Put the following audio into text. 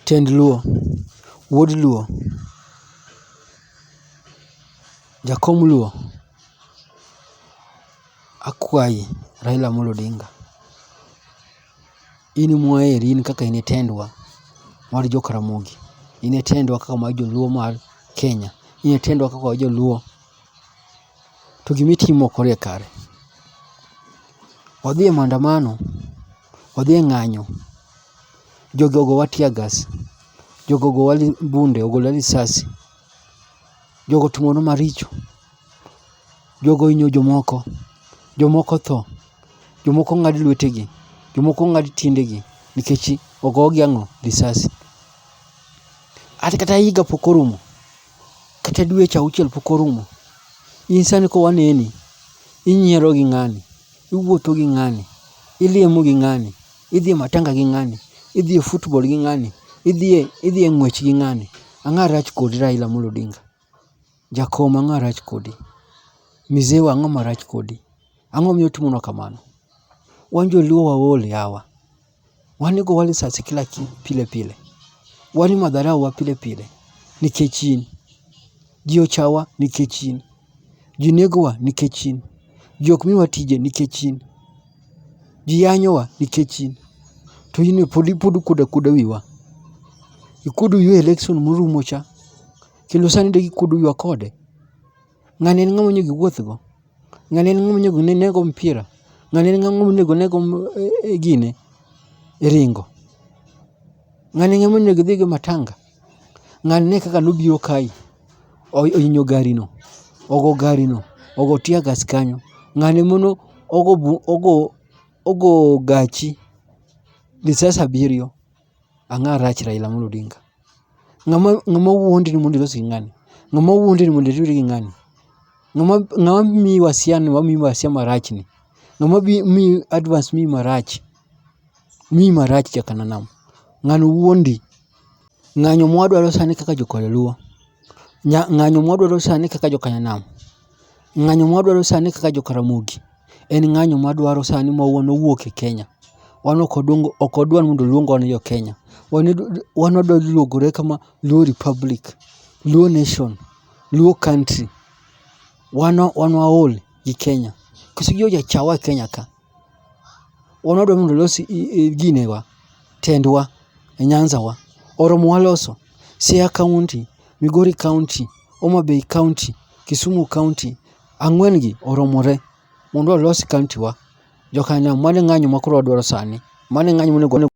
Tend luo, wuod luo, jakom luo, akwayi Raila Amolo Odinga, in ema waheri in kaka in e tendwa mar jo Karamogi, in e tendwa kaka mar joluo mar Kenya, in e tendwa kaka joluo. To gima itimo ok orie kare. Wadhi e maandamano. odhi e ng'anyo, jogi ogowa tear gas, jogi ogowa bunde, ogolwa risasi, jogi otimonwa maricho, jogi ohinyo jomoko, jomoko otho, jomoko ong'ad lwetegi, jomoko ong'ad tiendegi nikech ogogi ang'o, risasi. An kata higa pok orumo, kata dweche auchiel pok orumo, in sani kowaneni, inyiero gi ng'ani. iwuotho gi ng'ani, ilemo gi ng'ani, idhi e matanga gi ng'ani, idhi e football gi ng'ani, idhi e idhi e ng'wech gi ng'ani. Ang'o marach kodi Raila Amolo Odinga? Jakom ang'o marach kodi? Mizewa ang'o marach kodi? Ang'o momiyo utimonwa kamano? Wan joluo waol yawa. Wan go wa lisasi kila ki pile pile. Wan ma dharau wa pile pile nikech in. Ji ochawa nikech in. Ji negowa nikech in. Ji ok miwa tije nikech in. Ji yanyowa nikech in. To in be pod ikuodo akuoda wiwa. Ikuodo wiwa e election morumo cha. Kendo sani dek ikuodo wiwa kode. Ng'ani en ng'ama onego iwuoth go? Ng'ani en ng'ama onego ine go mpira? Ng'ani en ng'ama onego ine go gine, ringo? Ng'ani en ng'ama onego idhi go e matanga? Ng'ani ne kaka nobiro kae, ohinyo gari no, ogo gari no, ogo tear gas kanyo. Ng'ani ema ne ogo gachi risasi abiriyo. Ang'a rach Raila Amolo Odinga? Ng'ama ng'ama wuondi ni mondo ilos gi ng'ani? Ng'ama wuondi ni mondo iriwri gi ng'ani? Ng'ama ng'ama miyi wasia ni wamiyi wasia marach ni? Ng'ama bi miyi advans miyi marach? Miyi marach jakananam. Ng'ano wuondi? Ng'anyo mwadwaro sani kaka jo Kalaluo. Ng'anyo mwadwaro sani kaka joka nyanam, ng'anyo mwadwaro sani kaka joka ramogi en ng'anyo mwadwaro sani ma wan owuok e Kenya. Wan ok wadwa ni mondo luo ogo ni jo Kenya. Wan wadwa luogore kama luo republic, luo nation, luo country. Wan waol gi Kenya. Koso gi ojachawa e Kenya ka. wan wadwa mondo olos ginewa, tendwa e nyanza wa. Oromo waloso, Siaya kaunti, Migori kaunti, Homa Bay kaunti, Kisumu kaunti, ang'wen gi oromore mondo walos kaunti wa. Joka nam mane ng'anyo ma koro wadwaro sani, mane ng'anyo monego.